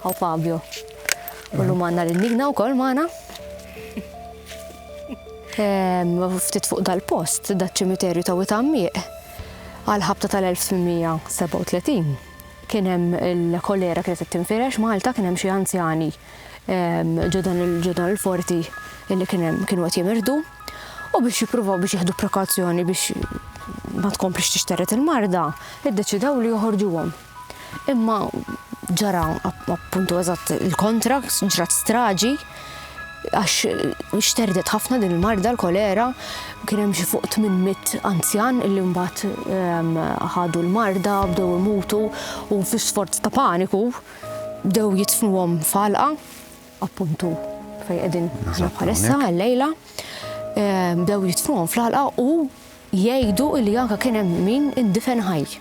Hawn Fabio. U llum għandna lil Nigna wkoll magħna. Ftit fuq dal-post, daċ-ċimiterju ta' Witgħammiq, għal-ħabta tal-1837, kien hemm il-kolera kienet qed tinfirex Malta, kien hemm xi anzjani ġodan il-forti li kien hemm kienu qed jimirdu. U biex jippruvaw biex jieħdu prekazzjoni biex ma tkomplix tixteret il-marda, iddeċidaw li joħorġuhom. Imma ġara appuntu eżatt il-kontra, ġrat straġi, għax xterdet ħafna din il-marda l-kolera, kien hemm xi fuq 800 anzjan illi mbagħad ehm, ħadu l-marda, bdew imutu u fi sforz ta' paniku bdew jitfnuhom falqa, appuntu fejn qegħdin bħalissa għal-lejla, ehm, bdew jitfnuhom fl-alqa u Jgħidu li anke kien hemm min indifen ħaj.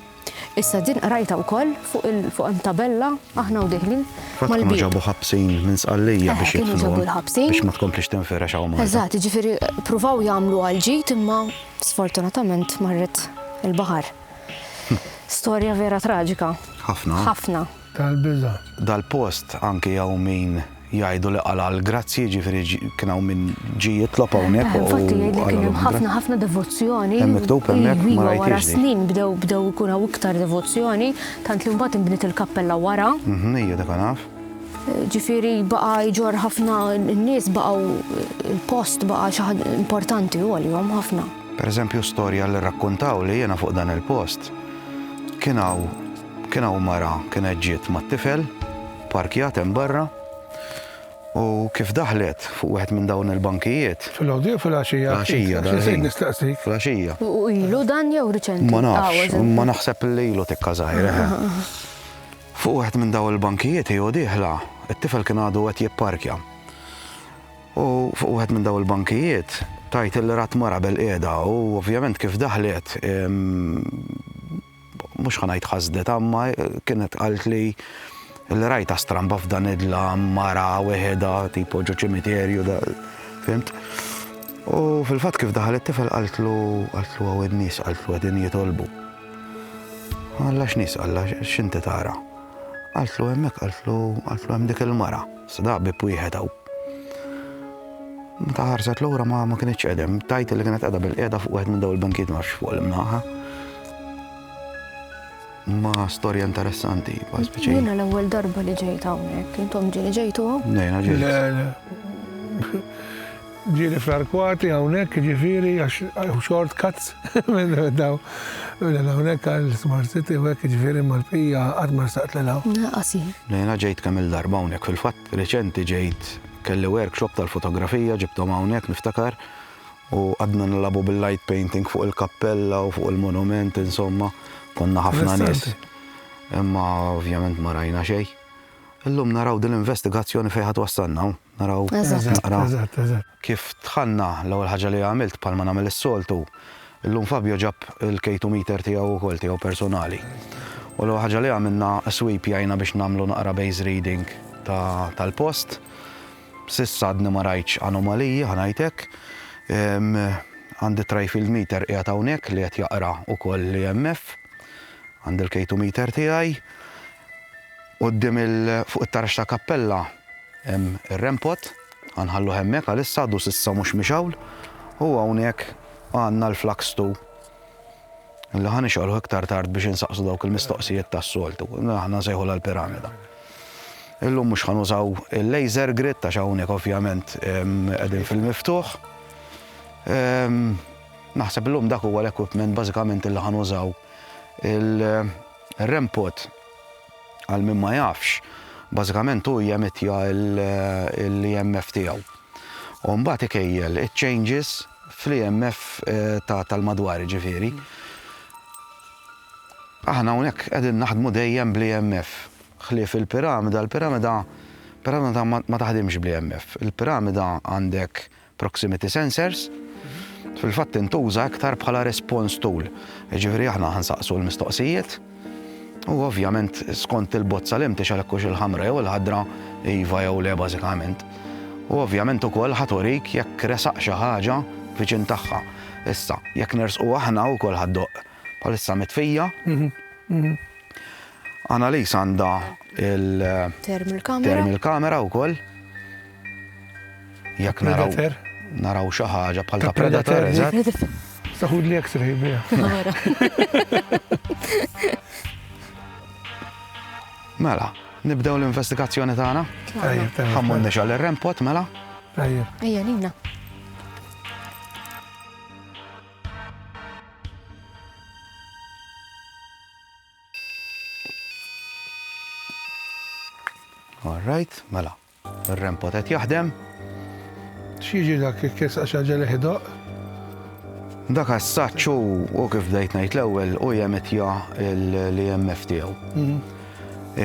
Issa din qrajtha wkoll fuq il fuq hemm tabella aħna u dieħlin mal-bieb. Fatt kienu ġabu ħabsin minn Sqallija biex jidfnuhom biex ma tkomplix tinfirex hawn Malta. Eżatt, jiġifieri pruvaw jagħmluha l-ġid imma sfortunatament marret il-baħar. Storja vera traġika. Ħafna. Ħafna. tal-biża'. Dal-post anki hawn min jgħidu li qala' l-grazzji, jiġifieri kien hawn min ġie jitlob hawnhekk u qalgħu l-grazzji. Infatti jgħidlek kien hemm ħafna ħafna devozzjoni. Hemm miktub hemmhekk ma rajthiex din. Iva wara snin bdew bdew ikun hawn iktar devozzjoni, tant li mbagħad inbniet il-kappella wara. Mhm, ija dak naf. Ġifieri baqa' jġorr ħafna n-nies baqgħu il-post baqa' xi ħaġa importanti hu għalihom ħafna. Per eżempju storja li rrakkuntawli jiena fuq dan il-post, kien hawn Kien hawn mara kienet ġiet mat-tifel, pparkjat hemm barra, u kif daħlet fuq wieħed minn dawn il-bankijiet. Filgħodu jew filgħaxija? Filgħaxija dal-ħin. X'insejt nistaqsik? Filgħaxija. U ilu dan jew riċenti? Ma nafx, imma naħseb li ilu tikka żgħir, eħe. Fuq wieħed minn dawn il-bankijiet hi u dieħla, it-tifel kien għadu qed jipparkja. U fuq wieħed minn dawn il-bankijiet tgħid li rat mara bilqiegħda u ovvjament kif daħlet, mhux ħa ngħid ħasdet imma kienet qaltli li rajtha stramba f'dan id-dlam mara weħedha tipo ġo ċimiterju da fimt. U fil-fatt kif daħal it-tifel qaltlu qaltlu għaw in-nies qaltlu qegħdin jitolbu. Alla x'nies alla x'inti tara? Qaltlu hemmhekk qaltlu qaltlu hemm dik il-mara. Sada ħbieb wieħed hawn. Meta ħarset lura ma ma kinitx qedem, tajt li kienet qiegħda bil-qiegħda fuq wieħed minn dawn il-bankijiet ma fuq l-imnaħa. Ma storja interessanti, ma speċi. Jiena l-ewwel darba li ġejt hawnhekk, intom ġejtu hawn? Nejna ġejtu. Ġieli fl-arkwati hawnhekk jiġifieri għax short cuts minn daw minn hawnhekk għal Smart City u hekk jiġifieri mal-bqija qatt ma ressaqt lil hawn. Naqas jien. Jiena ġejt kemm il-darba hawnhekk fil-fatt reċenti ġejt kelli workshop tal-fotografija ġibthom hawnhekk niftakar u qgħadna nilagħbu bil-light painting fuq il-kappella u fuq il-monument insomma konna ħafna nies. Imma ovvjament ma rajna xejn. Illum naraw din l-investigazzjoni fejn ħa twassalna hawn. naraw naqra kif dħalna l-ewwel ħaġa li għamilt bħalma nagħmel is-soltu. Illum Fabio ġab il-K2 meter tiegħu wkoll tiegħu personali. U l-ewwel ħaġa li għamilna sweep jgħinna biex nagħmlu naqra base reading tal-post. Sissa għadni ma rajtx anomaliji ħanajtek. Għandi trajfield meter qiegħed hawnhekk li qed jaqra wkoll l-EMF. Għandi l-K2 meter tiegħi. Quddiem il fuq it-tarax tal-kappella hemm ir-rempot, ħa nħalluh hemmhekk għalissa għadu s'issa mhux miex hawn, u hawnhekk għandna l-flaxtu li ħa nixgħluh iktar tard biex insaqsu dawk il-mistoqsijiet tas-soltu, aħna nsejħulha l-piramida. Illum mhux ħa nużaw il-laser grid għax hawnhekk ovvjament qegħdin fil-miftuħ. Naħseb illum dak huwa l-equipment bażikament li ħa nużaw. Il-rempot Għal min ma jafx, bażikament hu jemittja l-EMF tiegħu u mbagħad ikejjel iċ-changes fl-EMF tal-madwar, jiġifieri. Aħna hawnhekk qegħdin naħdmu dejjem bl-EMF, ħlief il-piramida, il-piramida, piramida ma taħdimx bl-EMF. Il-piramida għandek proximity sensors, fil-fatt tintuża iktar bħala response tool. Ġifieri aħna ħansaqsu l-mistoqsijiet u ovvjament skont il-bozza li mtix għalhekk hux il-ħamra jew il-ħadra iva jew le bażikament. U ovvjament ukoll ħaturik jekk resaq xi ħaġa viċin tagħha. Issa, jekk nersqu aħna wkoll ħaddoq bħalissa mitfija. Analis għandha il-thermal camera wkoll. Jekk naraw. Predator. Naraw xi ħaġa bħal ta' predator, eżatt. Saħud li x-ray biha. Mela, nibdew l-investigazzjoni tagħna. Ejja, tagħna. Ħammun nixgħal ir-rempot mela. Ejja. Ejja lina. All right, mela. Ir-rempot qed jaħdem. X'jiġi dak jekk jersaq xi ħaġa li ħidoq? Dak assaċ u kif bdejt ngħid l-ewwel u jemitja l-EMF tiegħu. Mhm.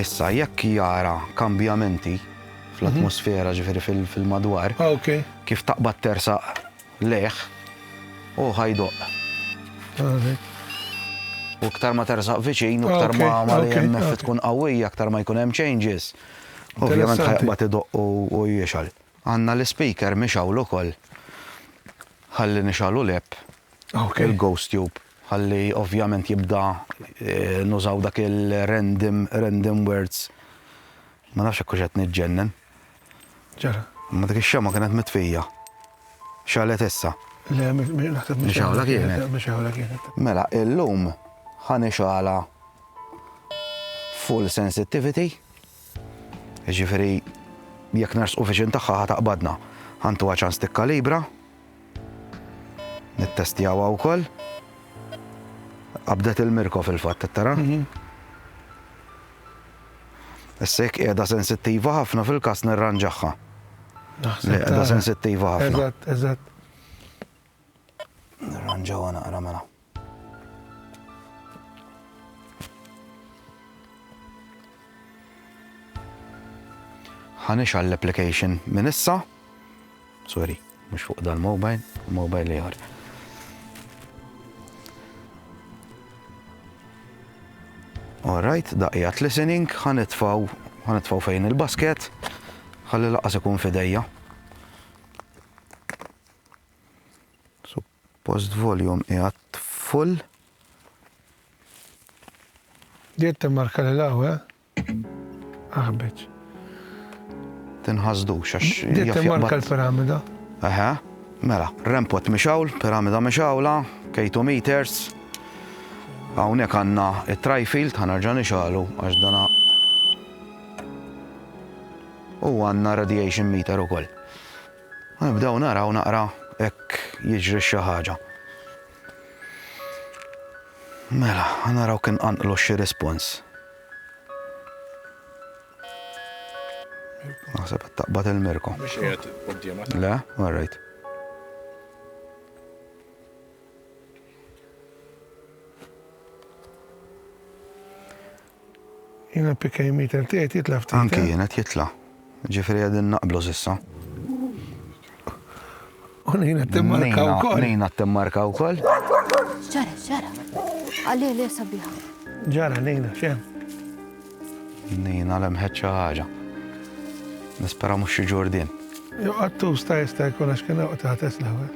Issa jekk jara kambjamenti fl-atmosfera ġifieri fil-madwar, ah, kif taqbad tersaq leħ u ħajdoq. U ktar ma tersaq viċin, u ktar ma ma li jemmef tkun qawwija, ktar ma jkun hemm changes. Ovvjament ħajqbad idoqq u jixgħal. Għandna l-ispeaker mixgħul ukoll ħalli nixgħalu l-app, il-ghost tube, ħalli ovvjament jibda nużaw dak il-random, random words. Ma nafx jekk hux qed niġġennen. Ġara. Imma dik ix-xemgħa kienet mitfija. Xagħlet issa. Le, naħseb mixgħula kienet. Mixgħula kienet. Mela, illum ħa nixgħalha. Full sensitivity, jiġifieri jekk nersqu viċin tagħha ħa taqbadna. Ħantuha ċans tikkalibra. Nittestjawha wkoll. Qabdet il-mirko fil-fatt, tara? Mhm. Issa jekk qiegħda sensittiva ħafna fil-każ nirranġaħħa. Qiegħda sensittiva ħafna. Eżatt, eżatt. Nirranġawha naqra mela. Ħanix għall-application minn issa. Sorry, mhux fuq dal-mobile, mobile ieħor. Alright, daqijat listening, ħanitfaw, ħanitfaw fejn il-basket, ħalli laqas ikun fidejja. Suppost volume qiegħed full. Qed timmarka lil hawn, eh? Aħbiċ. Tinħasdux għax. Qed timmarka l-piramida. Eħe, mela, rempot mixawl, piramida mixawla, K2 meters. Hawnhekk għandna it-trifield ħanerġa' nixalu għax dana u għandna radiation meter ukoll. U nibdew naraw naqra jekk jiġrix xi ħaġa. Mela, naraw kien qanqlu xi rispons. Naħseb qed taqbad il-mirko. Mhux qiegħed quddiemek. Le, all right. Jiena PK Meter qed jgħid jitla' ftit. Anki jien qed jitla'. Ġifieri qegħdin naqblu s'issa. U Nina timmarka wkoll. Nina timmarka wkoll. Ġara, ġara. Għalli li sabiħa. Ġara Nina, xem. Nina lemħet xi ħaġa. Nispera mhux xi ġurdin. Jo għattu sta jista' jkun għax kien waqt ħates l-ewwel.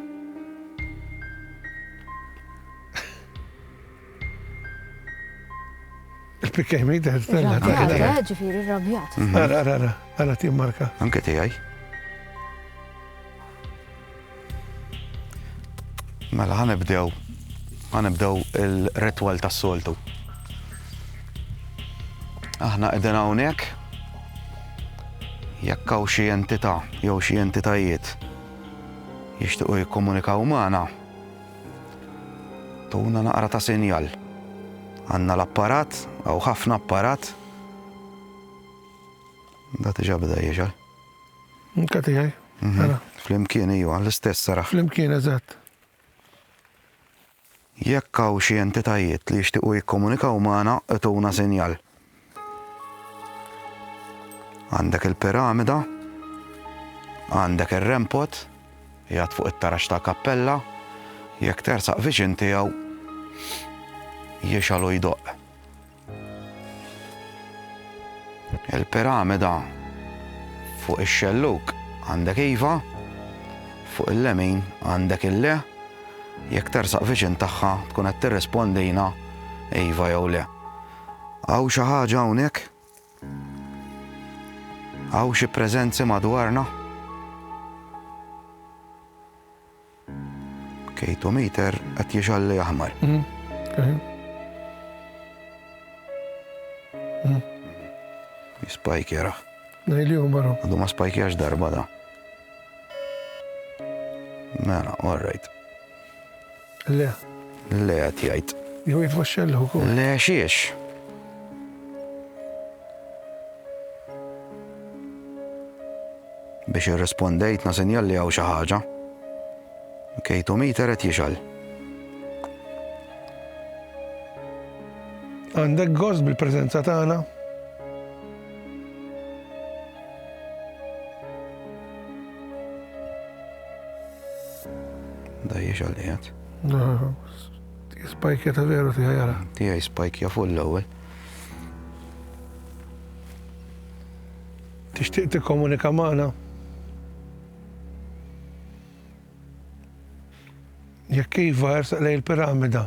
Spikkej mi daħ stella. Għara, ġifiri rabjat. Għara, għara, għara tim marka. Anke tijaj. Mela ħanibdew, ħanibdew il-retwal tas soltu Aħna qegħdin hawnhekk jekk hawn xi entità jew xi entitajiet jixtiequ jikkomunikaw magħna. Tuna naqra ta' sinjal. Għandna l-apparat, hawn ħafna apparat. Da tiġa bda jieġa. Nka tiegħi. Mhm. Mela. Flimkien iju, l-istess saraħ. Flimkien eżatt. Jekk hawn xi entitajiet li jixtiequ jikkomunikaw magħna, ituna sinjal. Għandek il-piramida, għandek ir-rempot, jgħat fuq it-tarax ta' kappella, jekk tersaq viċin tiegħu jixalu jdoq. Il-piramida fuq ix-xelluk għandek iva, fuq il-lemin għandek il-le, jekk tersaq viċin tagħha tkun qed tirrispondina iva jew le. Hawn xi ħaġa hawnhekk? Hawn xi preżenzi madwarna? Kejtu meter qed jixalli aħmar. Mm, mm. mm. Jispajkjera. Nejli u marru. Għadu ma spajkjax darba da. Mela, all right. Le. Le qed jgħid. Jew jgħid Vascello wkoll. Le xiex? Biex irrispondejt nasinjal li hawn xi ħaġa. Kejtu miter qed jixal. Għandek gost bil-preżenza tagħna? Dajjex għal qiegħed. Spajkja ta' veru tiegħi jara. Tiegħi spajkja fuq l-ewwel. Tixtieq tikkomunika magħna? Jekk iva ersaq lej il-piramida.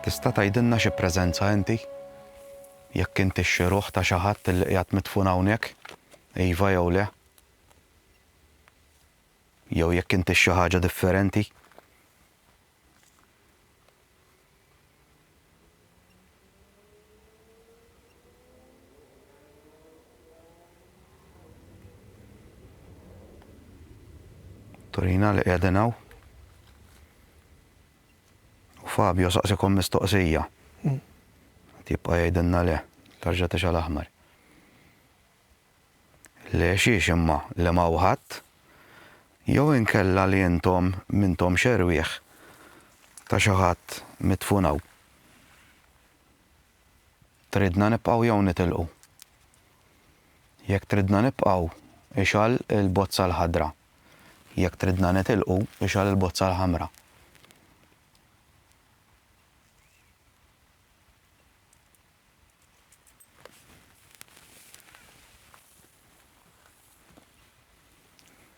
Tista' tgħidilna xi preżenza inti? Jekk intix xi ruħ ta' xi ħadd li qiegħed midfun hawnhekk, iva jew le? Jew jekk intix xi ħaġa differenti? Torina li qegħdin hawn. U Fabio saqsikom mistoqsija. Tibqa' jgħidilna le, tarġa' tixgħal aħmar. Le xiex imma, le m'hawn ħadd? Jew inkella li intom m'intomx erwieħ ta' xi ħadd midfun hawn? Tridna nibqgħu jew nitilqu? Jekk tridna nibqgħu, ixgħal il-bozza l-ħadra. Jekk tridna nitilqu, ixgħal il-bozza l-ħamra.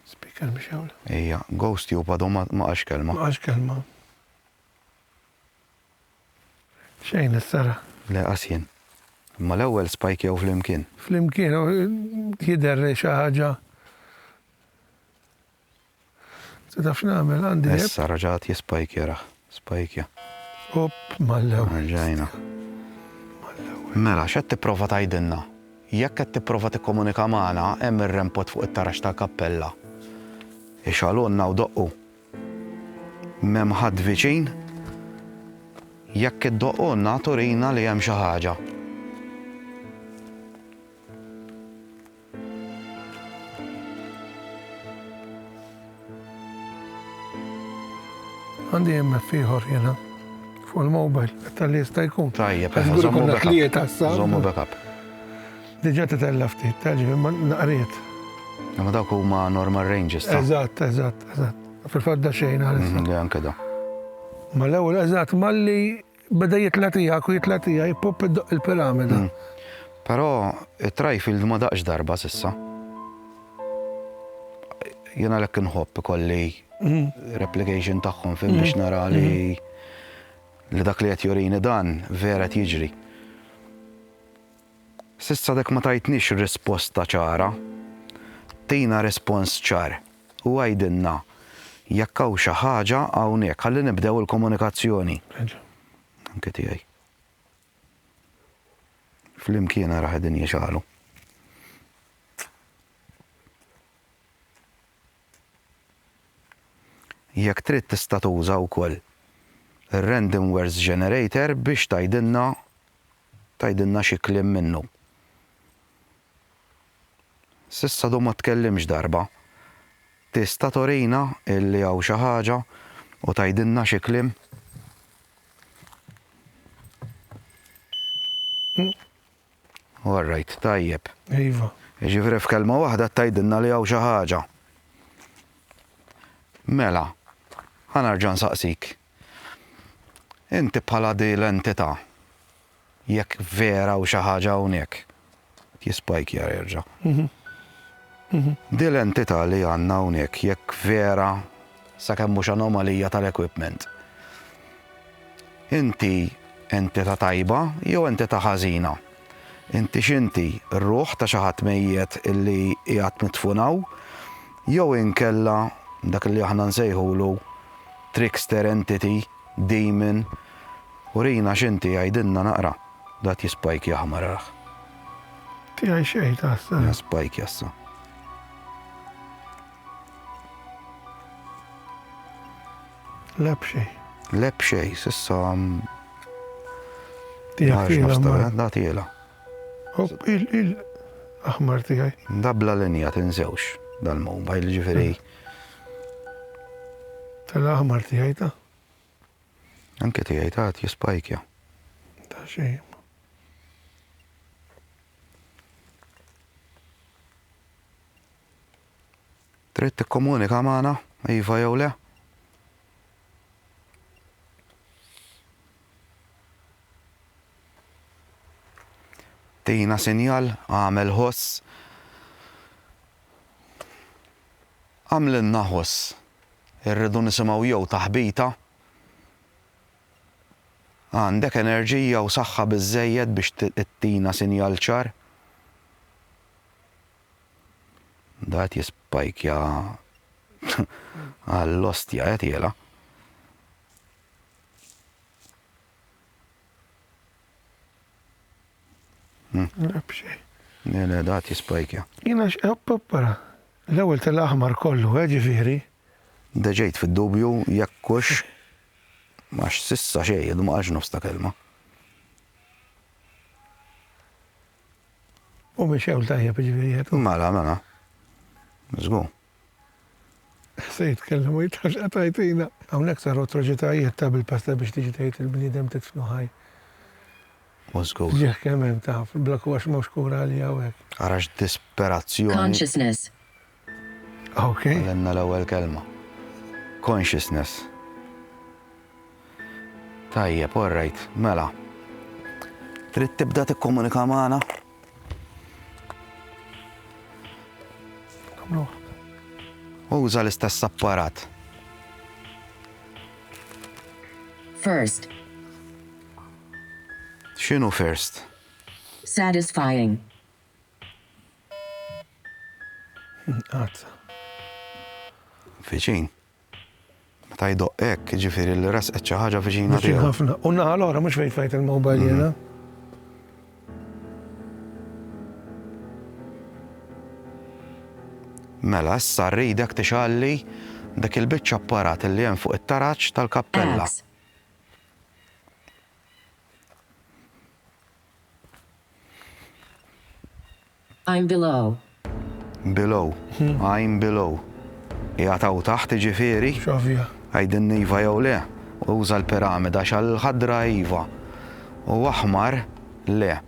Speaker mhix hawn. Ejja, ghost jew bado ma qax kelma. Ma qax kelma. Xejn is-sara. Le qas jien. Imma l-ewwel spajkjaw flimkien. Flimkien, jidher xi ħaġa. Sa taf x'nagħmel għandi. Issa raġat jispajkja rah. Spajkja. Opp mal-ewwel. Erġajna. Mal-ewwel. Mela, x'qed tipprova tgħidilna? Jekk qed tipprova tikkomunika magħna, hemm ir-rempot fuq it-taraġ tal-kappella. Ixgħalulna u doqqu. M'hemm ħadd viċin? Jekk iddoqqulna, turina li hemm xi ħaġa. Għandi jemmek fiħor jena. Fuq il-mobile, tal-li jista jkun. Tajja, per zommu backup. Zommu backup. Diġa t-tella ftit, taġi, ma naqriet. Ma dawk huma normal ranges. Eżatt, eżatt, eżatt. Fil-fadda xejn għal. Mhm, anke da. Ma l-ewwel eżatt malli Beda jitla' tiegħek u jitla' tiegħi, ippupp iddoqq il-piramida. Però it-Trifield ma daqx darba s'issa. Jien għalhekk inħobb ikolli replication tagħhom fim biex nara li li dak li qed jurini dan vera qed jiġri. S'issa għadek ma tajtnix risposta ċara. Tina rispons ċar u għidilna jekk hawn xi ħaġa hawnhekk ħalli nibdew il-komunikazzjoni. Anke tiegħi. Flimkien ara qegħdin jixgħalu. Jekk trid tista' tuża wkoll ir-random words generator biex tgħidilna Tgħidilna xi kliem minnu. S'issa għadu ma tkellimx darba. Tista' turina illi hawn xi ħaġa u tgħidilna xi kliem? All right, tajjeb. Iva. Jiġifieri f'kelma waħda tgħidilna li hawn xi ħaġa. Mela, ħa nerġa' nsaqsik. Inti bħala di l-entità, jekk vera hawn xi ħaġa hawnhekk, qed jispajkja jerġa'. Di l-entità li għandna hawnhekk jekk vera sakemm mhux anomalija tal-equipment, inti entità tajba jew entità ħażina? Intix inti r-ruħ ta' xi ħadd mejjet illi qiegħed midfun hawn, jew inkella dak illi aħna nsejħulu trickster entity, demon? Urina x'inti, għidilna naqra. Dgħat jispajkjah ma rah. Tiegħi xejn taħseb? Jispajkja issa. Le b'xejn. Le b'xejn, s'issa Da tiela. Il-aħmar tiegħi. Dabla linja tinżewx dal-mobile ġifieri. Tal-aħmar tiegħi ta'. Anke tiegħi ta' jispajkja. Ta' xejn. Trid tikkomunika magħna, iva jew le? Tina sinjal, agħmel ħoss. Agħmlilna ħoss. Irridu nisimgħu jew taħbita. Għandek enerġija u saħħa biżżejjed biex ittina sinjal ċar? Da qed jispajkja għall-ostja qed jela. Nabxej. Le, le, da qed jispajkja. Jina x'qappara. L-ewwel tal-aħmar kollu, eh, ġifieri. Deġejt fid-dubju jekk hux għax sissa xejn, ma qalx nofs ta' kelma. U mexew tajjeb ġifieri qed. Mela, mela. Żgur. Se jitkellem u jitħax qed tgħajtina. Hawnhekk saru atroċitajiet ta' bil-pasta biex tiġi tgħid il-bniedem tidfnu ħaj. U żgur. Ġieħ kemm hemm taf, bla kurax m'hawnx kura għalih hawnhekk. Ara x'disperazzjoni. Consciousness. Ok. Għallimna l-ewwel kelma. Consciousness. Tajjeb, all right, mela. Trid tibda tikkomunika magħna? Uża l-istess apparat. First. X'inhu first? Satisfying. Qatt. Viċin. Meta jdoqq hekk, jiġifieri li resqet xi ħaġa viċina tiegħu. Viċin ħafna. U naħa l-oħra mhux fejn flajt il-mobile jiena. Mhm. Mela, issa rridek tixalli dak il-biċċa apparat li hemm fuq it-taraġ tal-kappella. I'm below. Below. I'm below. Qiegħed hawn taħt iġifieri? X'ovvja. Għidilni iva jew le. Uża l-piramida xal ħadra iva. U aħmar le.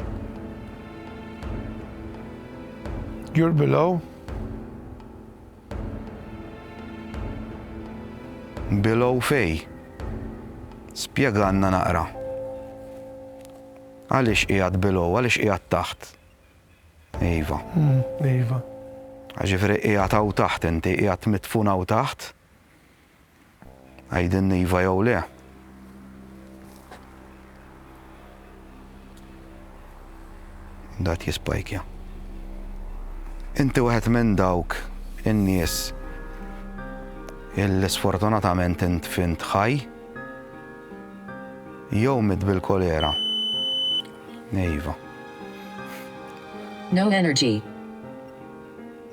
You're below. Below fej. Spjeganna naqra. Għaliex qiegħed below, għaliex qiegħed taħt? Iva. Iva. Ġifieri qiegħed hawn taħt inti, qiegħed mitfun hawn taħt? Għidilni iva jew le. Dat jispajkja. Inti wieħed minn dawk in-nies il-sfortunatament int fint ħaj, Jew miet bil-kolera. Iva. No energy.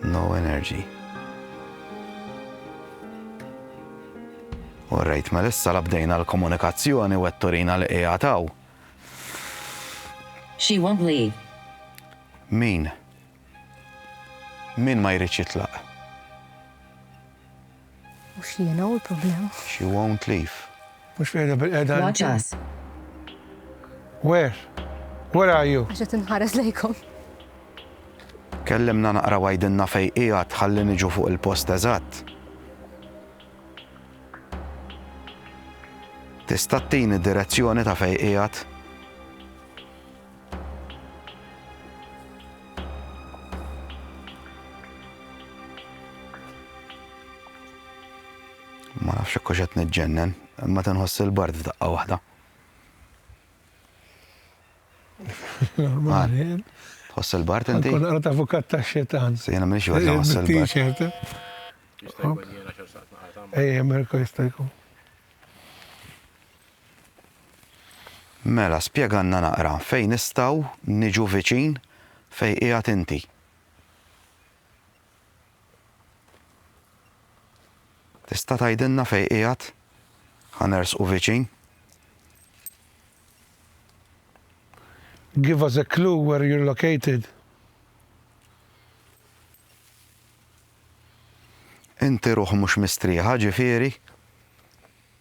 No energy. All right, ma lissa la bdejna l-komunikazzjoni u qed turina li qiegħed hawn. She won't leave. Min? Min ma jridx jitlaq? Mhux jiena hu l-problema. She won't leave. Mhux qiegħda bilqiegħda. Watch us. Where? Where are you? Għax qed inħares lejkom. Kellimna naqra u għidilna fejn qiegħed ħalli niġu fuq il-post eżatt. Tista' ttini direzzjoni ta' fejn qiegħed? Ma nafx hekk qed niġġennen, imma tinħoss il-bard f'daqqa waħda. Normali. Tħoss il-bard inti? Kun qara ta' fukat ta' xetan. Se jiena m'iniex waħda nħoss il-bard. Ejja, Mirko jista' jkun. Mela spjegalna naqra fejn nistgħu niġu viċin fejn qiegħed inti. Tista' tgħidilna fejn qiegħed? Ħa nersqu viċin. Give us a clue where you're located. Inti ruħ mhux mistrieħa, ġifieri?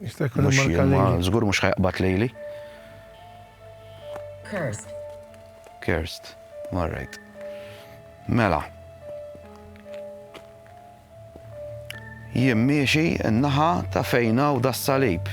Jista' jkun Mhux jien ma żgur mhux ħajqbad lejli. Cursed. Cursed. All right. Mela. Jien miexi n-naħa ta' fejna u das-salib.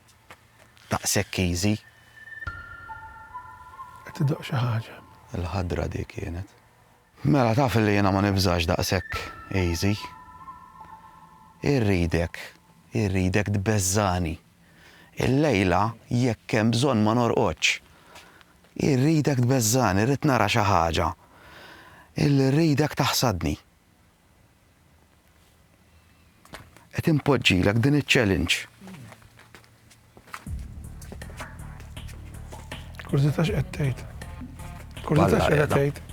Daqshekk easy. Qed idoqq xi ħaġa. Il-ħadra dik kienet. Mela taf illi jiena ma nibżax daqshekk easy. Irridek, irridek tbeżżagħni. Illejla jekk hemm bżonn ma norqodx. Irridek tbeżżagħni, rrid nara xi ħaġa. Illi rridek taħsadni. Qed impoġġilek din iċ-challenge. Kurzita x'qed tgħid? Kurzita x'qed tgħid?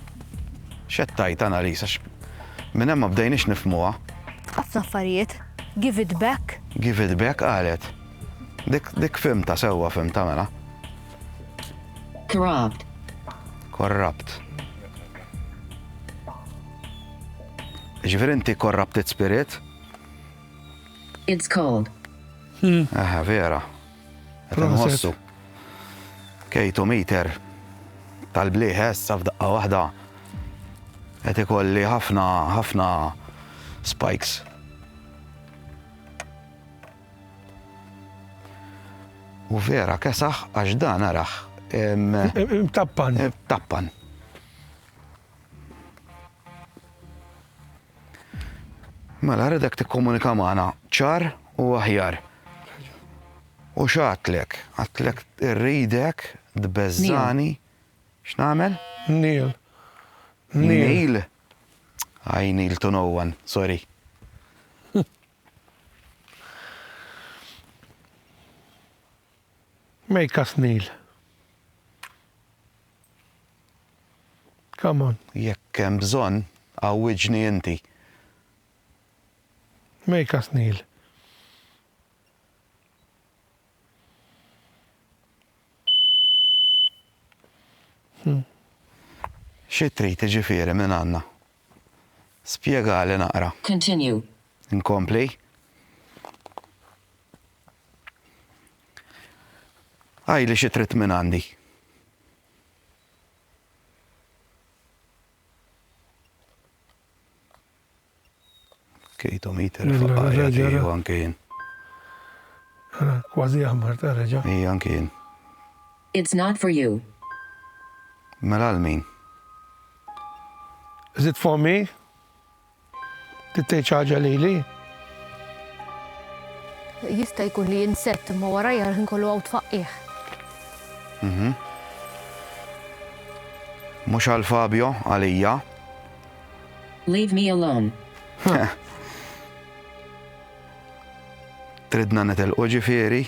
X'qed tgħid Annalisa? Minn hemm ma bdejniex nifmuha. Ħafna affarijiet. Give it back. Give it back qalet. Dik dik fimta sewwa fimta mela. Corrupt. Korrapt. Ġifieri inti corrupted spirit? It's cold. Aha, vera. Qed Proset. inħossu. Kejtu meter tal-blieħes sa f'daqqa waħda. Qed ikolli ħafna ħafna spikes. U vera kesaħ għax dan araħ. Tappan. Tappan. Mela redek tikkomunika magħna ċar u aħjar. U xatlek, għatlek irridek, dbezzani, x'namel? Nil. Nil. Għaj Nil to no one, sorry. Make us kneel. Come on. Jekk hemm bżonn, għawwiġni inti. Make us kneel. Xi trid iġifieri minn għandna? Spjegali naqra. Continue. Inkompli. Għidli xi trid minn għandi. Kejtu mit il-faqqa ġeru anke jien. Ara, kważi jaħmar ta' reġa. Ija anke jien. It's not for you. Mela għal min? Is it for me? Trid tgħid xi ħaġa lili? Jista' jkun li jinsett imma warajja l-ħin kollu hawn tfaqqih. Mhux għal Fabio, għalija. Leave me alone. Tridna nitilqu ġifieri?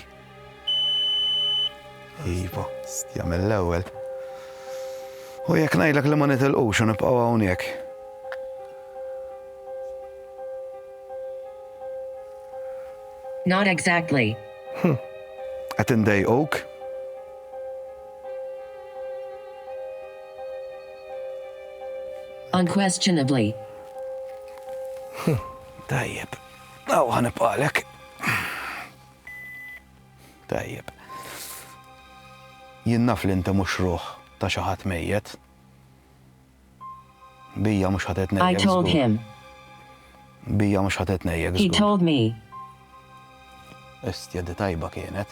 Iva, stja mill-ewwel. U jekk ngħidlek li ma nitilqux u nibqgħu hawnhekk. Not exactly. Hm. Qed indejquk? Unquestionably. Tajjeb. Aw ħa nibqgħalek. Tajjeb. Jien naf li inti mhux ruħ ta' xi ħadd mejjet. Bija mhux ħadet nejjek. I told him. Bija mhux ħadet nejjek. He told me. Estja di tajba kienet.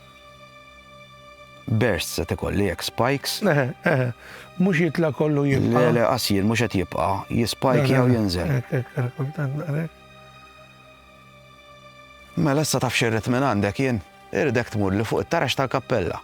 Bursts qed ikolli hekk, spikes? Eħe, eħe, mhux jitla' kollu jibqa'. Le, le, qasir mhux qed jibqa', jispajki jew jinżel. Mela issa taf xirrid minn għandek jien, irdek tmur li fuq it-tarax tal-kappella.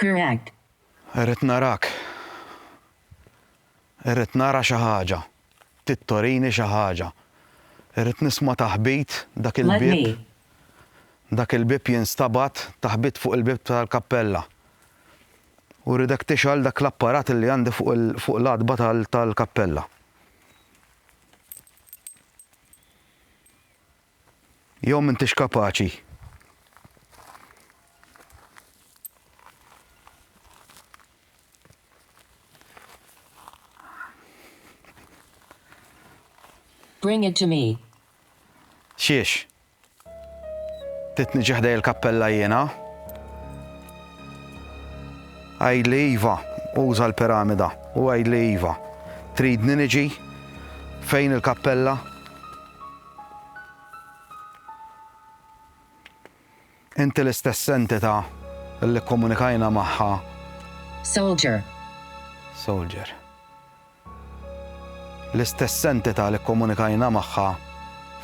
Correct. Irrid narak. Irrid nara xi ħaġa. Trid torini xi ħaġa. Irrid nisma' taħbit dak il-bieb. Dak il-bieb jinstabgħat taħbit fuq il-bieb tal-kappella. U rridek tixgħal dak l-apparat li għandi fuq l-għatba tal-kappella. Jew m'intix kapaċi. Bring it to me. Xiex? Titni ġeħdej il-kappella jiena. Għajdli Iva, uża l-piramida, u għajdli Iva. Tridni niġi fejn il-kappella? Inti l-istess entità li kkomunikajna magħha. Soldier. Soldier. L-istess entità li kkomunikajna magħha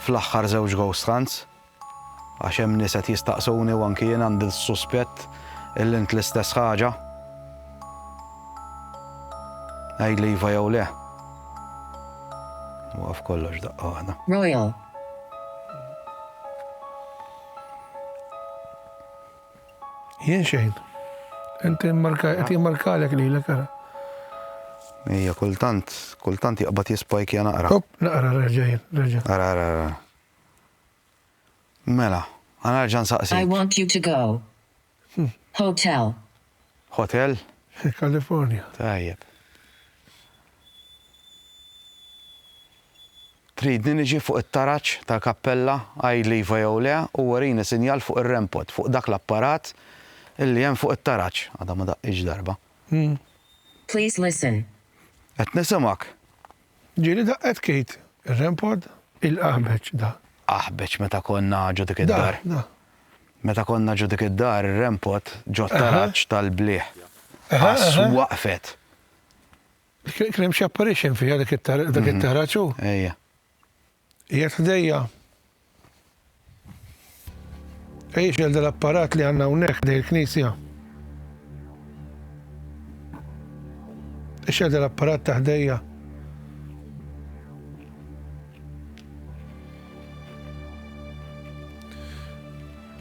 fl-aħħar żewġ ghost hunts? Għax hemm nies qed jistaqsuni u anki jien għandi l-suspett illi int l-istess ħaġa. Għidli iva jew le. Waqaf kollox daqqa waħda. Royal. Jien xejn. Inti markalek li l-ek ara. Ija, kultant, kultant jaqbat jispajk jana ara. Hop, naqra reġajn, reġajn. Ara, ara, ara. Mela, għana ġan saqsi. I want you to go. Hotel. Hotel? Fi California. Tajjeb. Tridni niġi fuq it-taraġ tal-kappella, għidli iva jew le, u urini sinjal fuq ir-rempot, fuq dak l-apparat li hemm fuq it-taraġ. Għadha ma daqqitx darba. Please listen. Qed nisimgħek. Ġieli daqqet Kate ir-renpod. Il-qaħbeċ da. Qaħbeċ meta konna ġo dik id-dar. Da, da. Meta konna ġo dik id-dar ir-renpod ġo t-taraġ tal-blieh. Għas waqfet. Kien hemm xi apparition fiha dak it-taraġ hu? Ejja. Qiegħed ħdejja? Ejja x'għel dal-apparat li għandna hawnhekk ħdej il-knisja. Ixel dal-apparat ta' ħdejja.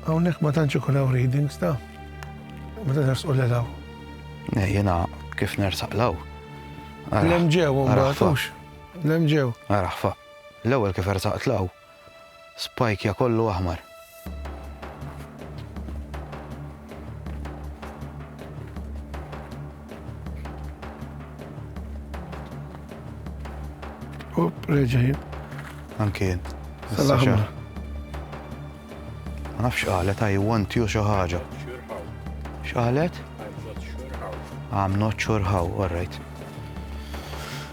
Hawnhekk ma tantx ikun hawn readings ta' ma tantx u l-law. Jiena kif nersaq law. Lem ġew, ma L-hemm ġew. Araħ fa. L-ewwel kif ersaqt 'l hawn. Spajkja kollu aħmar. Up, reġa' jien. Anke jien. Sal-aħmar. Ma nafx qalet I want you xi ħaġa. X'qalet? I'm not sure how, all right.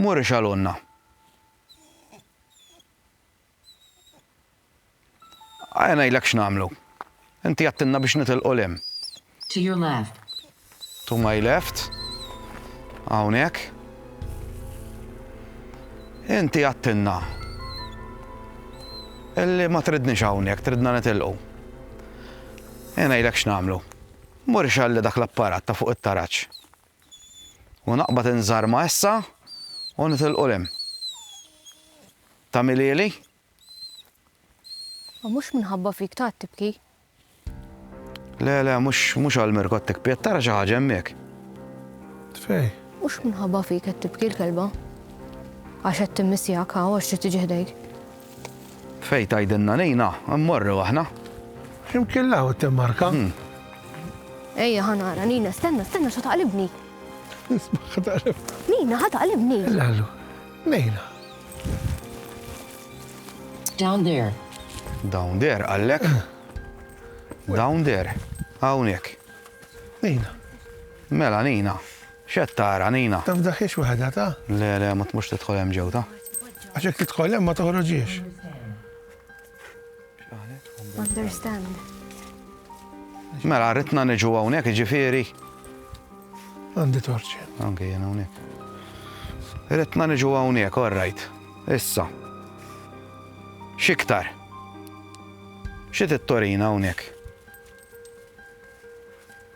Mur ixgħalunna. Aja ngħidlek x'nagħmlu. Inti għedtilna biex nitilqu 'l hemm. To your left. To my left. Hawnhekk. Inti għedtilna illi ma tridniex hawnhekk, tridna nitilqu. Aja ngħidlek x'nagħmlu. Mur ixgħalli dak l-apparat ta' fuq it-taraġ. U naqbad inżarma issa u nitilqu 'l hemm. Tagħmilhieli? U mhux minħabba fik tgħad tibki? Le, le, mhux, mhux għal Mirko tikpi, qed tara xi ħaġa hemmhekk. Fej? Mhux minħabba fik qed tibki l-kelba. Għax qed timmissjak hawn għax trid tiġi ħdejk. Fejn tgħidilna lejna, mmorru aħna. Imkien l-hawn it-timmarka. Ejja ħa nara, Nina, stenna, stenna x'ħa taqlibni. Isma' ħa taqlibni. Nina, ħa taqlibni. Lallu, Nina. Down there. Down there, għallek. Down there. Hawnhekk. Nina. Mela, Nina. X'qed tara, Nina? Taf dak hix waħda ta'? Le, le, ma tmurx tidħol hemm ġew ta'. Għax jekk tidħol hemm ma toħroġiex. Understand. Mela, ritna niġu hawnhekk, ġifieri. Għandi torċi. Anke jien hawnhekk. Ritna niġu hawnhekk, all right. Issa. X'iktar? Xi tittorina hawnhekk?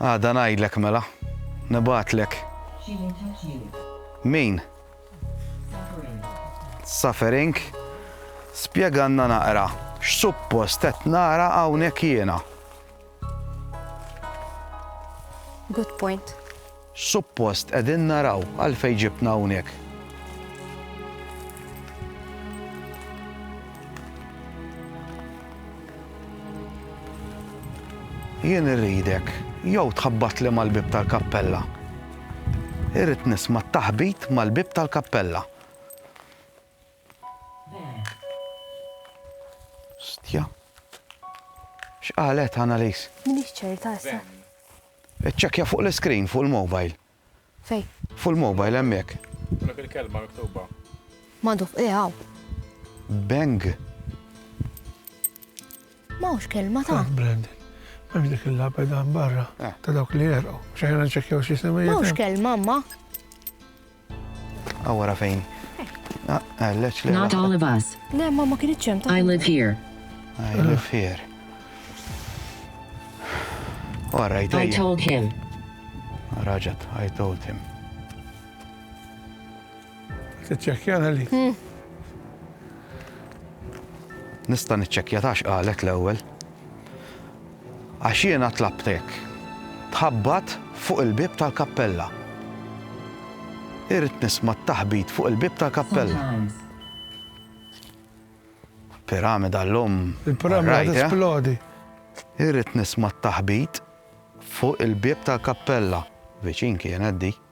Għada ngħidlek mela. Nibgħatlek. Min? Suffering. Spjegalna naqra x'suppost qed nara hawnhekk jiena. Good point. Suppost qegħdin naraw għalfejn ġibtna hawnhekk. Jien irridek jew tħabbatli mal-bib tal-kappella. Irrid nisma' t-taħbit mal-bib tal-kappella. Stja. X'qalet Annalise? Minix ċerta issa. Iċċekkja fuq l-iskrin fuq il-mobile. Fejn? Fuq il-mobile hemmhekk. Tlab il-kelma miktuba. Madhuf, eh hawn. Bang. M'hawnx kelma ta'. Taf Brandon. M'hemmx dik il-lapeda hemm barra ta' dawk li għerqu. Mhux aħjar nċekkjaw x'isem hi. M'hawnx kelma, Mma. Awara fejn? Għalleċ li. Not all of us. Le, ma ma kienet ċem ta' I live here. I live here. Wara, I told him. Raġat, I told him. Tiċċekkjana li. Hmm. Nista' niċċekkja tax qalet l-ewwel. Għax jiena tlabt hekk. Tħabbat fuq il-bieb tal-kappella. Irrid nisma' t-taħbit fuq il-bieb tal-kappella. Piramida llum. Il-piramida qed tisplodi. Irrid nisma' t-taħbit fuq il-bieb tal-kappella. Viċin kienet dik.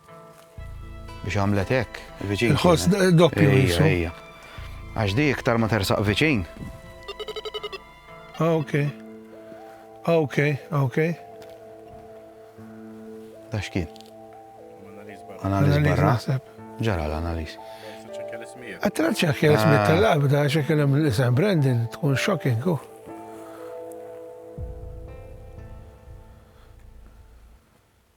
Biex għamlet hekk, viċin. Il-ħoss doppju. Ejja, ejja. Għax di iktar ma tersaq viċin. Ah, ok. Ah, ok, ah, ok. Da xkien? Analiz barra. Ġara l-analiz. Għattra ċekja l-ismi ah. tal-labda, ċekja l-isem Brandon, tkun shocking. Oh.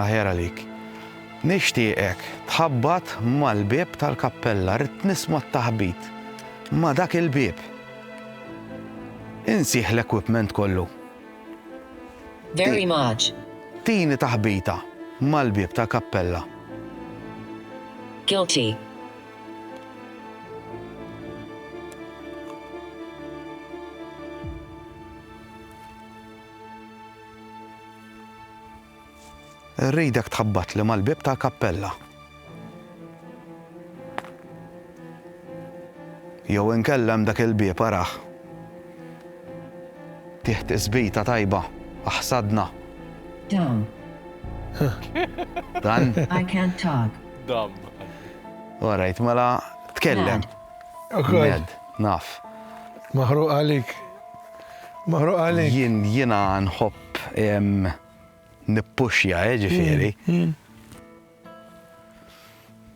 Aħjar għalik. Nixtieqek tħabbat mal-bieb tal-kappella, rrid nisma' t-taħbit ma' dak il-bieb. Insih l-equipment kollu. Very much. Tini taħbita mal-bieb tal-kappella. Guilty. Irridek tħabbatli mal-bieb tal-kappella. Jew inkella hemm dak il-bieb arah. Tih tisbita tajba, aħsadna. Dam. Dan? I can't talk. Dam. All right, mela tkellem. Mad. Naf. Maħruq għalik. Maħruq għalik. Jien jiena nħobb nippuxja, eh, ġifieri.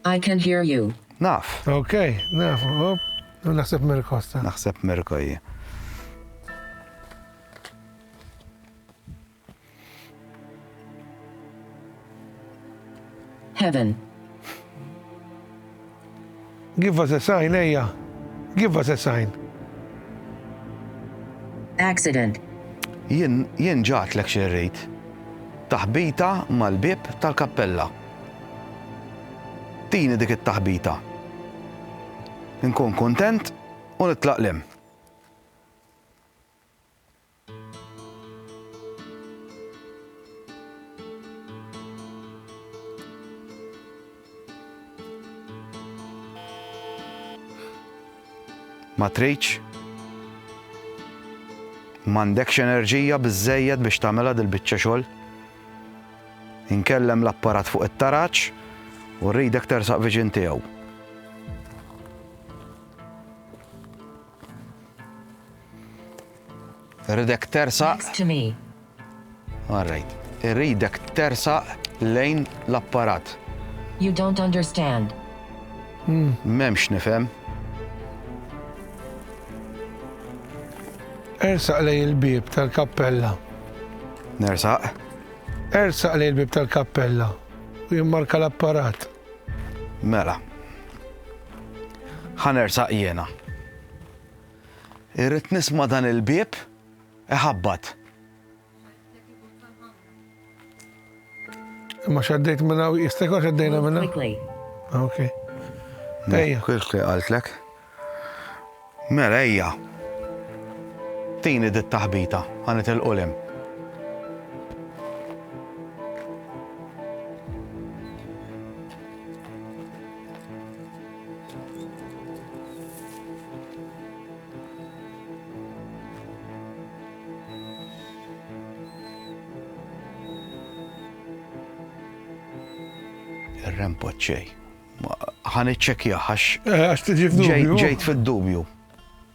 I can hear you. Naf. Ok, naf, hop. Naħseb Mirko sta. Naħseb Mirko hija. Heaven. Give us a sign, ejja. Give us a sign. Accident. Jien jien ġatlek xi rrid. Taħbita mal-bib tal-kappella. Tini dik it-taħbita. Nkun kontent u nitlaq lem. Ma tridx? M'għandekx enerġija biżżejjed biex tagħmilha dil-biċċa xogħol? Inkellem l-apparat fuq it-taraġ u rridek tersaq viġin tiegħu. Ridek tersaq. All right. Ridek tersaq lejn l-apparat. You don't understand. Memx nifhem. Ersaq lej il-bib tal-kappella. Nersaq. Ersaq lej il-bib tal-kappella u jimmarka l-apparat. Mela. Ħanersaq jiena. Irrid nisma' dan il-bieb iħabbat. Imma xaddejt minn hawn, jista' jkun xaddejna minn hawn. Ah, ok. Ejja. Kif li qaltlek? Mela ejja. Tini dit taħbita, għanet il-qulem. rempoċċej. Ħan iċċekja għax. Eh, għax tiġi f'dubju. Ġejt fid-dubju.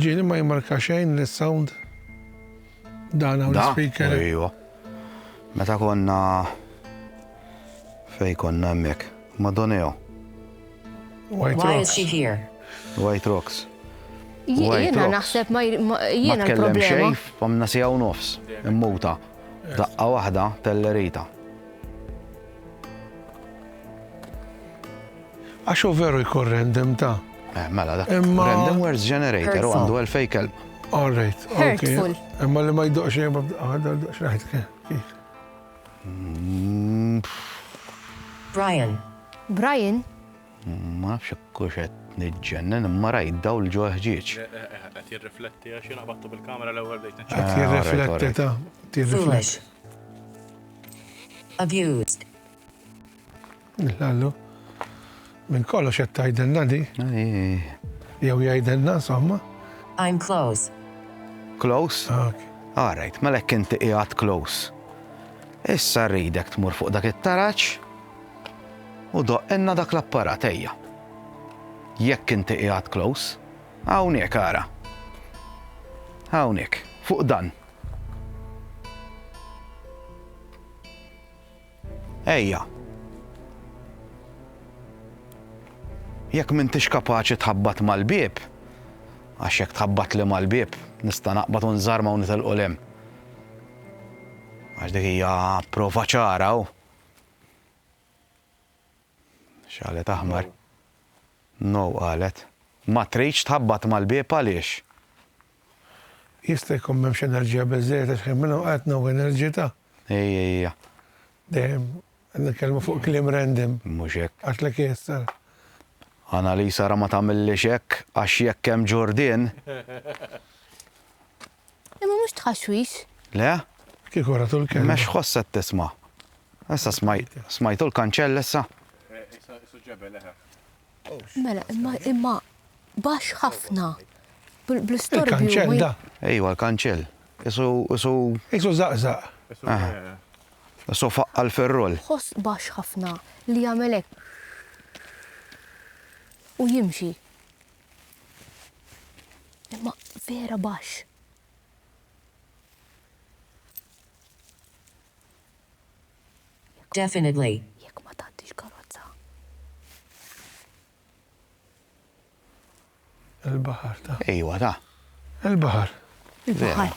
Ġieli ma jimmarka xejn li sound dan hawn speaker. Ejwa. Meta konna fej konna hemmhekk. Madoneo. White Why is she here? White Rocks. Jiena naħseb ma jiena l-problema. Fomna sija u nofs, immuta. Daqqa waħda tellerita. Għax hu veru jkun random ta'. Eh, mela, dak random words generator u għandu għal fej kelb. All right. Hurtful. Imma li ma jdoqx jibba għadda jdoqx raħet kif. Mm. Brian. Brian? Ma fx kuxet nidġennen imma rajt daw l ġo ħġieġ. Eh, eh, Għat jirrifletti għax jina battu bil-kamera l-ewel bejt. Għat jirrifletti ta' jirrifletti. Abused. Lallu. Minn kollox qed tgħidilna di. Jew jgħidilna insomma. I'm close. Close? Ah, okay. All right, mela hekk inti qiegħed close. Issa rridek tmur fuq dak it-taraġ u doqqenna dak l-apparat ejja. Jekk inti qiegħed close, hawnhekk ara. Hawnhekk, fuq dan. Ejja. Jekk m'intix kapaċi tħabbat mal-bieb, għax jekk tħabbat li mal-bieb, nista' naqbad u nżarma u nitilqu lem. Għax dik hija prova ċara u. X'qalet aħmar? No qalet. Ma tridx tħabbat mal-bieb għaliex? Jista' jkun m'hemmx enerġija biżżejjed għax kemm minn hawn qalet no enerġità. Ejja. Dejjem qed nitkellmu fuq kliem random. Mhux hekk. Għidlek hi s-sar. Annalisa ara ma tagħmillix hekk għax jekk hemm Ġurdien. Imma mhux tħaxwix. Le? Kieku ratu l-kelma. Imma x'ħoss qed tisma'? Issa smajtu l-kanċell issa? Mela, imma imma baxx ħafna. Bl-istorbju. Il-kanċell da. Ejwa, l-kanċell. Isu, isu. Isu zaqzaq. Isu faqqa l-ferrol. Ħoss baxx ħafna li jagħmel hekk. U jimxi. Imma vera baxx. Definitely. Jekk ma tgħaddix karozza. Il-baħar ta. Ejwa ta. Il-baħar. Il-baħar.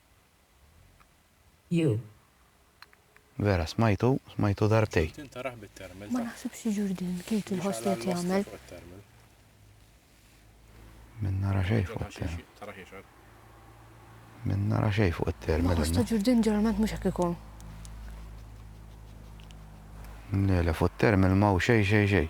Jew. Vera, smajtu, smajtu darbtejn. Ma naħsibx li Ġurdin Katie jħoss li qed jagħmel. Min nara xejn fuq it-terminal. Min nara xejn fuq it-terminal. L-aħħar ta' Ġurdin ġeneralment mhux hekk ikun. Le, le, fuq it-terminal ma hu xejn, xejn, xejn.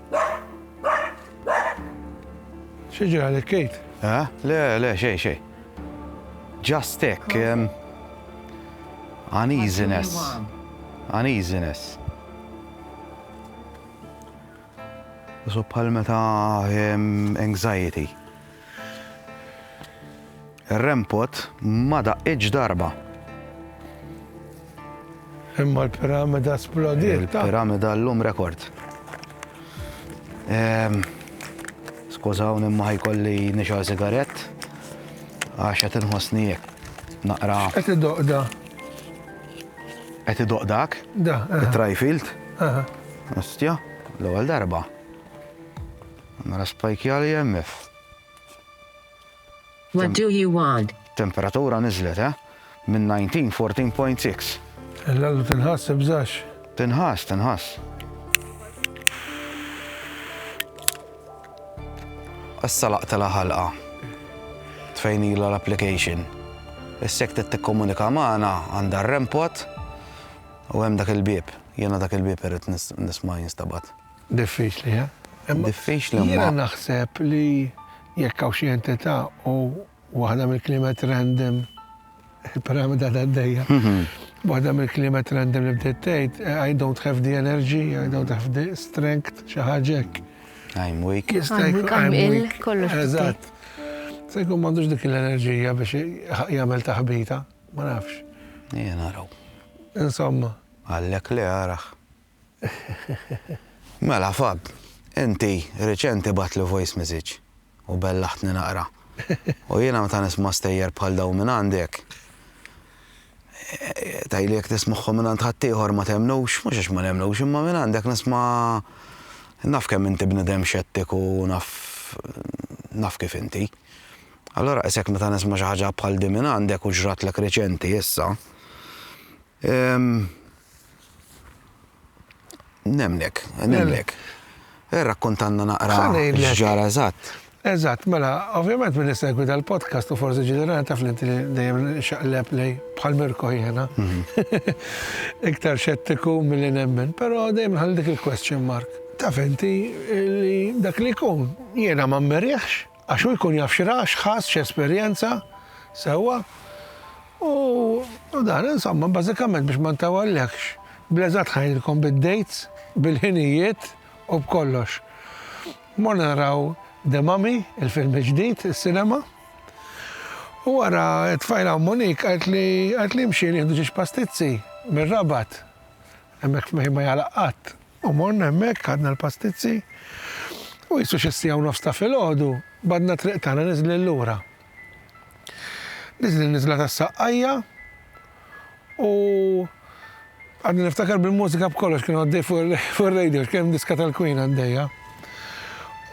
Xi ġara lek Kate? Eh? Le, le, xej, xej. Just hekk. Uneasiness. Uneasiness. So bħal meta anxiety. Ir-rempot ma daqqitx darba. Imma l-piramida splodiet. Il-piramida l-lum rekord. Ehm, Skużaw nimma ħajkolli nixal sigarett. Għax qed inħossni jekk. Naqra. Qed idoqda. Qed idoqdak? Da. Trajfield? Aha. Ostja, l-ewwel darba. Mela spajkja l-EMF. What do you want? Temperatura niżlet, eh? Minn 19, 14.6. Lallu tinħass ibżax. Tinħass, tinħass. Issa laqtela ħalqa. Tfejnila l-application. Is-sek tikkomunika magħna għandha r-rempot u hemm dak il-bieb. Jiena dak il-bieb irrid nisma' jinstabat. Diffiċli, eh? Diffiċli imma. Jiena naħseb li jekk hawn xi entità u waħda mill-kliemet random il-piramida ta' dejja. Waħda mill-kliemet random li bdiet tgħid I don't have the energy, I don't have the strength, xi ħaġa hekk. I'm weak. I'm weak, I'm ill, kollox. Eżatt. Se jkun m'għandux dik l-enerġija biex jagħmel taħbita, ma nafx. Jien naraw. Insomma. Għallek li għarax. Mela Fab, inti riċenti bgħattli voice message u bellaħtni naqra. U jiena meta nisma' stejjer bħal dawn minn għandek, tgħidli jekk tismagħhom minn għand ħaddieħor ma temmnux, mhux għax ma nemmnux imma minn għandek nisma' naf kemm inti bniedem xettiku u naf naf kif inti. Allura isek meta nisma' xi ħaġa bħal din minn għandek u ġratlek riċenti issa. Nemnek, nemnek. Eh, rakkontanna naqra x'ġara eżatt. Eżatt, mela, ovvjament minn segwi dal-podcast u forsi ġenerali taf li dejjem xaqleb lej bħal Mirko jiena. Mhm. Iktar xettiku milli nemmen, però dejjem ħal dik il-question mark. Taf inti li dak li jkun jiena ma mmerjaħx Għax hu jkun jaf x'ra, x'ħass, x'esperjenza, sewwa? U dan, insomma, bażikament biex ma ntawallekx, bl-eżatt ħanidilkom bid-dates, bil-ħinijiet u b'kollox. Morna naraw The Mummy, il-film il-ġdid, is-sinema, u wara t-tfajla Monique qaltli, qaltli imxi nieħdu ġiex pastizzi mir-Rabat, hemmhekk ma jagħlaq qatt. U morna hemmhekk, ħadna l-pastizzi, u qisu xi siegħa u nofs ta' filgħodu bgħadna t-triq tagħna niżlin lura. Niżlin niżla tas-saqqajja u għadni niftakar bil-mużika b'kollox kien għaddej fuq ir-radio x'kien hemm diska tal-Queen għaddejja.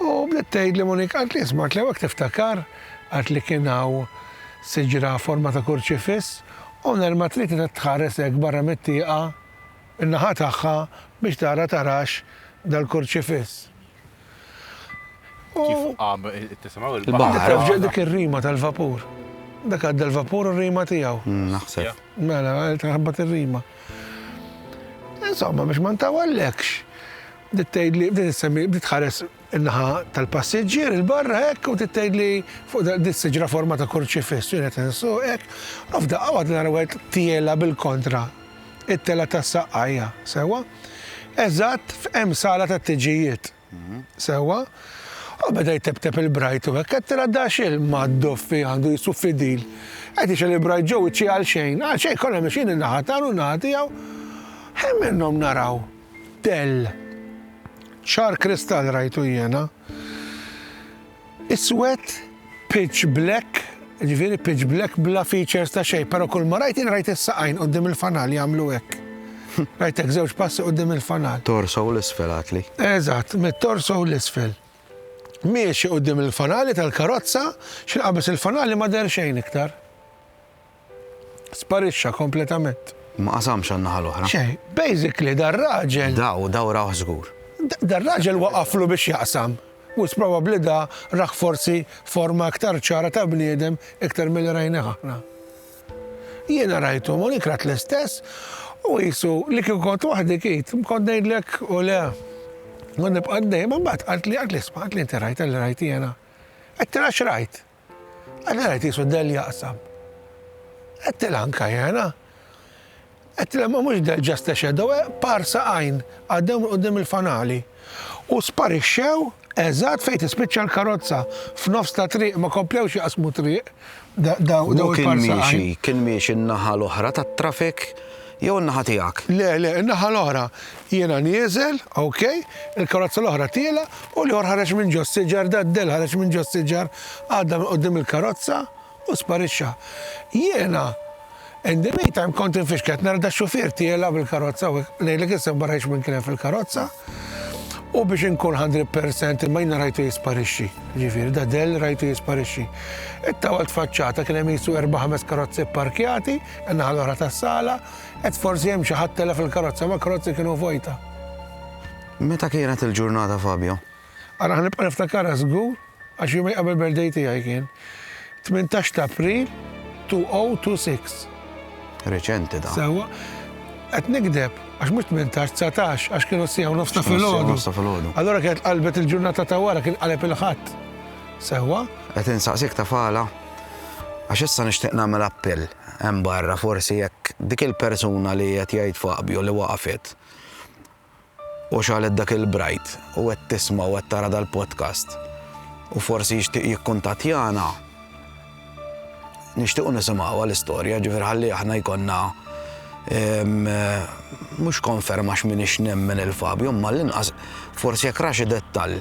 U bdiet tgħidli Monique qalt li isma' Cleo hekk tiftakar qalt li kien hawn siġra forma ta' kurċifiss u nerma trid titgħares hekk barra mit-tieqa In-naħa tagħha biex tara tarax dal-kurċifiss. U. Kif qam tisimgħu l-baħar. Inti taf ġa dik ir-rima tal-vapur? Dak għadda l-vapur u r-rima tiegħu. Naħseb. Mela, taħbat ir-rima. Insomma, biex ma ntawallekx, bdiet tgħidli, bdiet issemmi, bdiet tħares in-naħa tal-passiġġier 'il barra hekk u trid tgħidli fuq dak din siġra forma ta' kurċifiss u jien qed insuq hekk u f'daqqa waħda nara wieħed tiela' bil-kontra it-telgħa tas-saqqajja, sewwa? Eżatt f'hemm sala tat-tiġijiet, sewwa? U beda jteptep il-brajt u hekk qed tara daxxil mad-doffi għandu jisuf fidil. Qed jixel il-brajt ġew iċċi għal xejn, għal xejn kollha mexjin in-naħa tagħna u n-naħa tiegħu. Ħin minnhom naraw. Dell. Ċar kristall rajtu jiena. Iswed, pitch black, jiġifieri pitch black bla features ta' xejn, però kull ma rajt jien rajt is-saqajn quddiem il-fanal jagħmlu hekk. Rajtek żewġ passi quddiem il-fanal. Torso u l-isfel għadtli. Eżatt, mit-torso u l-isfel. Miexi quddiem il-fanali tal-karozza, x'inqabeż il-fanali ma deher xejn iktar. Sparixxa kompletament. Ma qasamx għan-naħa l-oħra. Xejn. Basically dar-raġel. Daw, daw rawh żgur. Dar-raġel waqaflu biex jaqsam. Most probably da rah forsi forma iktar ċara ta' bniedem iktar milli rajnih aħna. Jiena rajtu, Monique rat l-istess, u qisu li kieku kont waħdi kid, kont ngħidlek u le. Kont nibqa' dejjem, imbagħad qaltli, qaltli isma', qaltli inti rajtha li rajt jiena. Qed tara x'rajt? Allura qed isu Dell jaqsam. Qedtilha anka jena. Qedtilha ma mhux Dell just a shadow, eh, parsa għajn għaddew minn qudiem il-fanali u sparixxew eżatt fejn tispiċċa l-karozza f'nofs ta' triq ma komplewx jaqsmu triq daw il-parsa għajn. Kien miexi n-naħa l-oħra tat-traffic jew in-naħa tiegħek? Le, le, in-naħa l-oħra. Jiena nieżel, ok, il-karozza l-oħra tiela' u l-ieħor ħareġ minn ġo s-siġar, Daddell ħareġ minn ġo s-siġar, għadda minn quddiem il-karozza u sparixxa. Jiena, in the meantime, kont infixkel, qed nara dax-xufier tiela' bil-karozza u hekk, ngħidlek issa ma rajtx min kien hemm fil-karozza u biex inkun hundred percent imma jiena rajtu jisparixxi. Ġifieri Daddell rajtu jisparixxi. It-tawa tfaċċata kien hemm qisu erba' ħames karozzi pparkjati In-naħa l-oħra tas-sala, qed forsi hemm xi ħadd telef il-karozza, ma karozzi kienu vojta. Meta kienet il-ġurnata Fabio? Ara ħanibqa' niftakarha żgur għax jumej qabel birthday tiegħi kien. 18 ta' April 2026. Reċenti da. Sewwa, qed nikdeb għax mhux 18, 19 għax kienu sija u nofs ta' filgħodu. Allura kienet qalbet il-ġurnata ta' wara kien qaleb il-ħadd. Sewwa? Qed insaqsik ta' fala. Għax issa nixtieq nagħmel appell hemm barra forsi jekk dik il-persuna li qed jgħid Fabio li waqfet u xalet dak il-brajt u qed tisma' u qed tara dal-podcast u forsi jixtieq jikkuntattjana nixtiequ nisimgħu għal-istorja ġifier ħalli aħna jkollna mhux konferma x'min ix nemmen il-Fabio imma l-inqas forsi jekk raxi dettall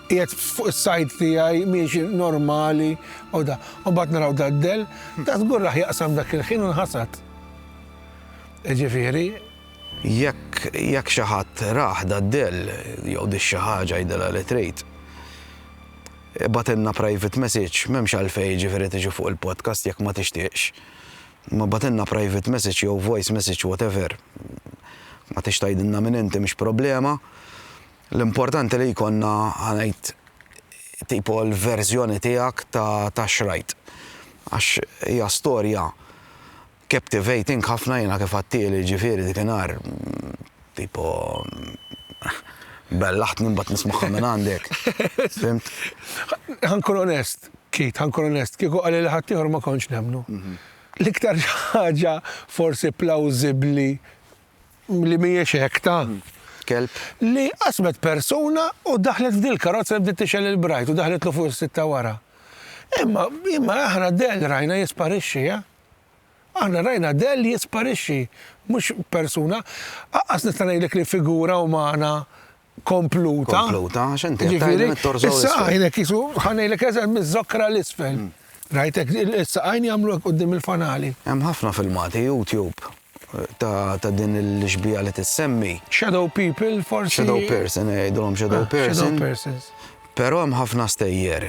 Qiegħed fuq is-sajd tiegħi, miexi normali u da. U mbagħad naraw daddel, da żgur raħ jaqsam dak il-ħin u nħasad. Jiġifieri, Jekk jekk xi ħadd rah daddel jew dix xi ħaġa għidilha li trid, ibgħatilna private message, m'hemmx għalfejn jiġifieri tiġi fuq il-podcast jekk ma tixtieqx. Imma ibgħatilna private message jew voice message whatever. Ma tridx tgħidilna min inti mhix problema. L-importanti li jkollna ħanajt tipo l-verżjoni tiegħek ta' ta' xrajt. Għax hija storja captivating ħafna jiena kif għattieli ġifieri dik inhar tipo bellaħtni mbagħad nismagħha minn għandek. Fimt? Ħankun onest, Keith, ħankun onest, kieku qalli li ħadd ieħor ma kontx nemmnu. L-iktar ħaġa forsi plawżibbli li mhijiex hekk ta'. Kelb. Li qasmet persuna u daħlet f'dil-karozza li bdiet tixgħel il-brajt u daħlitlu fuq is-sitta wara. Imma, imma aħna dell rajna jisparixxi, eh? Aħna rajna dell jisparixxi, mhux persuna. Aqqas nista' ngħidlek li figura umana kompluta. Kompluta, għax inti jiġifieri, Is-saqajn hekk jisu ħanejlek eżem miż-żokra l-isfel. Mm. Rajtek is-saqajn jagħmlu hekk qudiem il-fanali. Hemm ħafna filmati YouTube ta' din il-xbija li tissemmi. Shadow people, forsi. Shadow person, eh, jgħidulhom ah, shadow person. Pero hemm ħafna stejjer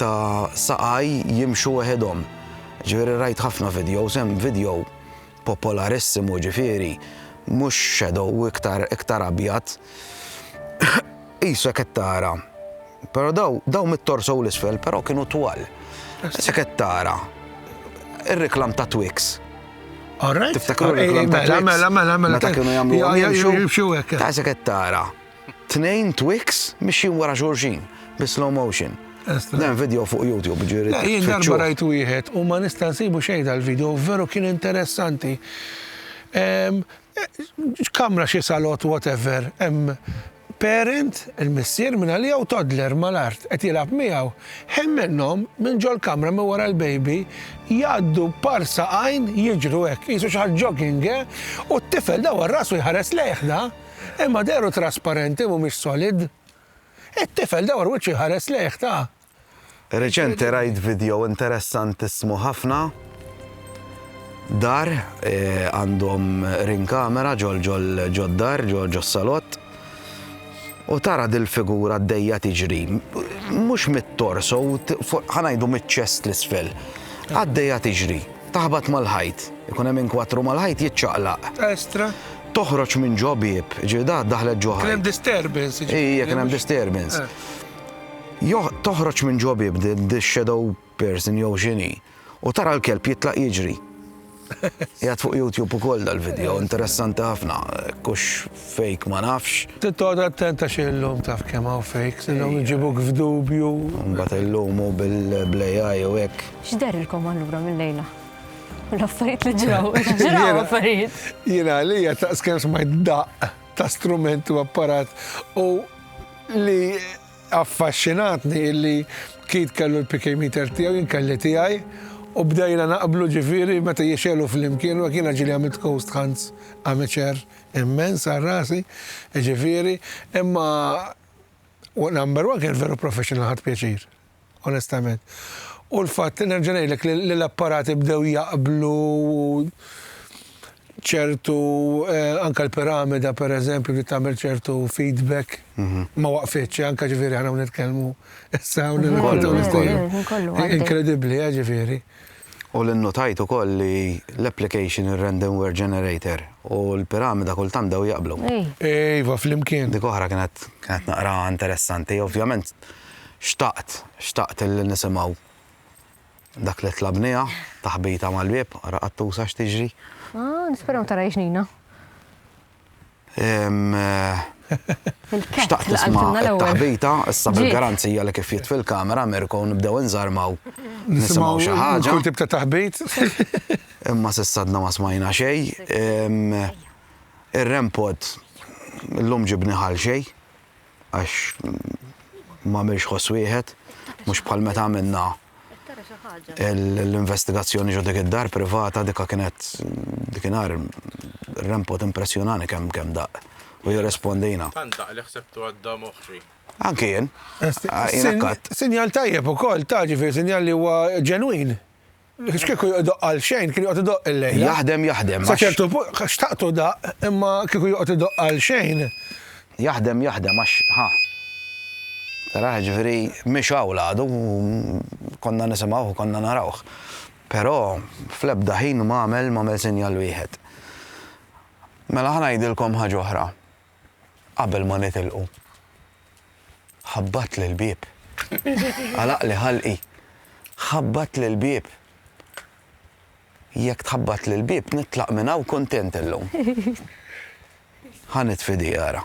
ta' saqaj jimxu weħedhom. Ġifieri rajt ħafna videos, hemm video Popolarissimo ġifieri mhux shadow iktar iktar abjad. Qisu hekk qed tara. Però daw daw mit-torso u l-isfel però kienu twal. Issa qed tara. Ir-reklam ta' Twix. Alright. Tiftakru l-reklam ta' Twix. Mela mela mela mela. Meta kienu jagħmlu jimxu hekk. Ta' qed tara. Tnejn Twix mixjin wara xulxin bi slow motion. Dan video fuq YouTube ġieri. Le, jien darba rajt wieħed u ma nista' nsibu xejn tal-video, veru kien interessanti. Kamra xi salott whatever, hemm parent, il-missier minn għalija u toddler mal-art qed jilgħab miegħu. Ħin minnhom minn ġol-kamra minn wara l-baby jgħaddu b'parsa għajn jiġru hekk, qisu xi ħaġa jogging, eh? U t-tifel dawwar rasu jħares lejh da. Imma dehru trasparenti mhumiex solid. It-tifel dawar wiċċu jħares lejh ta. Reċenti rajt vidjow interessantissmu ħafna. Dar għandhom ring camera ġol ġol ġod-dar ġo ġos-salott. U tara dil-figura għaddejja tiġri. Mhux mit-torso, ħa ngħidu miċ-ċest l-isfel. Għaddejja tiġri. Taħbat mal-ħajt. Ikun hemm inkwattru mal-ħajt jiċċaqlaq. Estra. Toħroġ minn ġo bieb, ġifieri da daħlet ġo ħajt. Kien hemm disturbance. Ija, kien hemm disturbance. Eh. Toħroġ minn ġo bieb the shadow person jew xini u tara l-kelb jitlaq jiġri. Jgħat fuq YouTube u koll dal-video, interessanti ħafna, kux fake ma nafx. Tittoqgħod attent għax illum taf kemm hawn fakes, illum iġibuk f'dubju. Mbagħad illum u bil-AI u hekk. X'derilkom allura mill-lejla? L-affarijiet li ġraw, ġraw affarijiet. Jiena għalija ta' skemm smajt daqq ta' strumenti u apparat u li affaxxinatni illi kid kellu l-PK meter tiegħu jien kelli tiegħi u bdejna naqblu ġifieri meta jixelu flimkien u jiena ġieli għamilt ghost hunts, amateur, Immens għal rasi, jiġifieri, imma number one kienet veru professional ħadt pjaċir, onestament. U l-fatt li nerġa' ngħidlek li l-apparati bdew jaqblu u ċertu eh, anka l-piramida per eżempju li tagħmel ċertu feedback mhm. ma waqfitx eh, anka ġifieri ħana nitkellmu issa hawn mhm. mhm. Inkredibbli, eh, ġifieri. U li nnutajt ukoll li l-application, ir-random word generator u l-piramida kultant bdew jaqblu. Iva, flimkien. Dik oħra kienet kienet naqra interessanti. Ovvjament xtaqt, xtaqt li nisimgħu dak li tlabniha, taħbita mal-bieb, ara qattusa x'tiġri. Ah, nisperaw tara jxnina. Xtaqt tisma' it-taħbita, issa bil-garanzija li kif jgħid fil-kamera Mirko nibdew inżarmaw nisimgħu xi ħaġa. Kull tip ta' taħbit. Imma s'issa għadna ma smajna xejn. Ir-REM pod illum ġibni ħal xejn. għax m'għamilx ħoss wieħed, mhux bħal meta għamilna l-investigazzjoni ġo dik id-dar privata dikha kienet dikinhar rempot impressjonani kemm kemm daq u jirrespondina. Tant daq li ħsebtu għadda moħħi. Anki jien. Sinjal tajjeb ukoll ta' ġifier sinjal li huwa ġenwin. X'kieku idoqq għal xejn, kien joqgħod idoqq il-lejla. Jaħdem, jaħdem. Sa ċertu punt, xtaqtu daqq, imma kieku joqgħod idoqq għal xejn. Jaħdem, jaħdem, għax, ħa. Taraħ, ġifieri, mhiex hawn għadu, konna nisimgħuh, konna narawh. Però fl-ebda ħin m'għamel m'għamel sinjal wieħed. Mela ħa ngħidilkom ħaġa oħra. qabel ma nitilqu. Ħabbatt l-bieb. Għalaqli ħalqi. Ħabbatt l-bieb. Jekk tħabbatt l-bieb nitlaq minn hawn kuntent illum. Ħanit fidi għara.